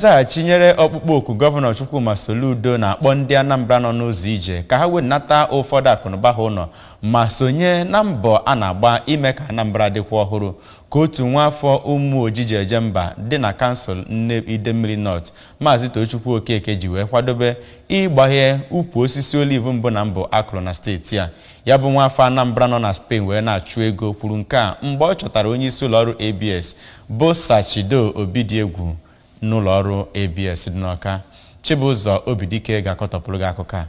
nzaghachi nyere ọkpụkpọ oku gọvanọ Chukwuma Soludo na-akpọ ndị Anambra nọ n'ụzọ ije ka ha wenata ụfọdụ akụnụba ha ụlọ ma sonye na mbọ a na-agba ime ka Anambra dịkwa ọhụrụ ka otu nwaafọ Umuoji ji eje mba dị na kansụl Idemmiri North Maazị Tochukwu Okeke ji wee kwadobe ịgbaghe ukwu osisi oliv mbụ na mbụ a kụrụ na steeti a ya bụ nwaafọ Anambra nọ na Spain wee na-achụ ego kwuru nke a mgbe ọ chọtara onye isi ụlọọrụ ABS bụ Sir Chido Obidiegwu n'ụlọọrụ ABS dị n'Ọka Chibụzọ Obidike ga-akọtọpụrụ gị akụkọ a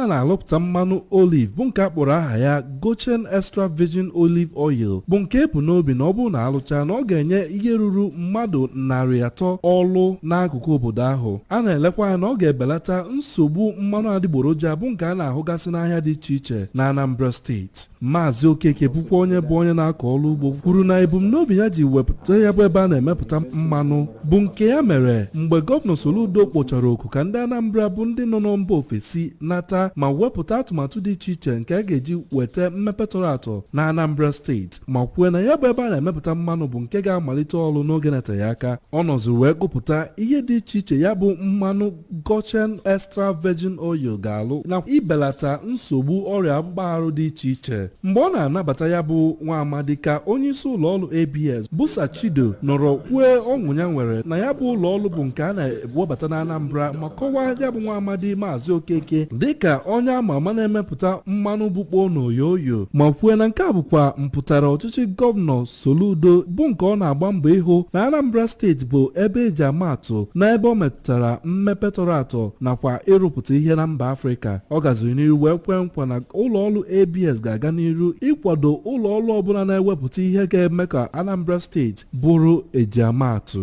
a na-alụpụta mmanụ olive bụ nke a kpọrọ aha ya Goshen Extra Virgin Olive Oil bụ nke e bu n'obi na ọ bụrụ na a lụcha na ọ ga-enye ihe ruru mmadụ narị atọ ọlụ n'akụkụ obodo ahụ a na-elekwa anya na ọ ga-ebelata nsogbu mmanụ adịgboroja bụ nke a na-ahụgasị n'ahịa dị iche iche na Anambra steeti Maazị Okeke bụkwa onye bụ onye na-akọ ọrụ ugbo kwuru na ebumnobi ya ji wepụta ya bụ ebe a na-emepụta mmanụ bụ nke ya mere mgbe gọvanọ Soludo kpọchara oku ka ndị Anambra bụ ndị nọ na mba ofesi nata ma wepụta atụmatụ dị iche iche nke a ga-eji weta mmepe tọrọ atọ na Anambra steeti ma kwue na ya bụ ebe a na-emepụta mmanụ bụ nke ga-amalite ọrụ n'oge na-eteghị aka ọ nọziri wee gụpụta ihe dị iche iche ya bụ mmanụ Goshen Extra Virgin Oil ga-alụ na ibelata nsogbu ọrịa akpụkpọ arụ dị iche iche. Mgbe ọ na-anabata ya bụ nwa amadi ka onyeisi ụlọọrụ ABS bụ Sir Chido nọrọ kwue ọṅụ ya nwere na ya bụ ụlọọrụ bụ nke a na-ewebata na Anambra ma kọwaa ya bụ nwa amadi Maazị Okeke dịka onye ama ama na-emepụta mmanụ bụkpo na oyo oyo ma kwue na nke a bụkwa mpụtara ọchịchị gọvanọ Soludo bụ nke ọ na-agba mbọ ịhụ na Anambra steeti bụ ebe e ji ama atụ n'ebe ọ metụtara mmepe tọrọ atọ nakwa ịrụpụta ihe na mba Afrịka. Ọ gaziri n'iru wee kwee nkwa na ụlọọrụ ABS ga-aga n'iru ịkwado ụlọọrụ ọbụla na-ewepụta ihe ga-eme ka Anambra steeti bụrụ ejiamaatụ.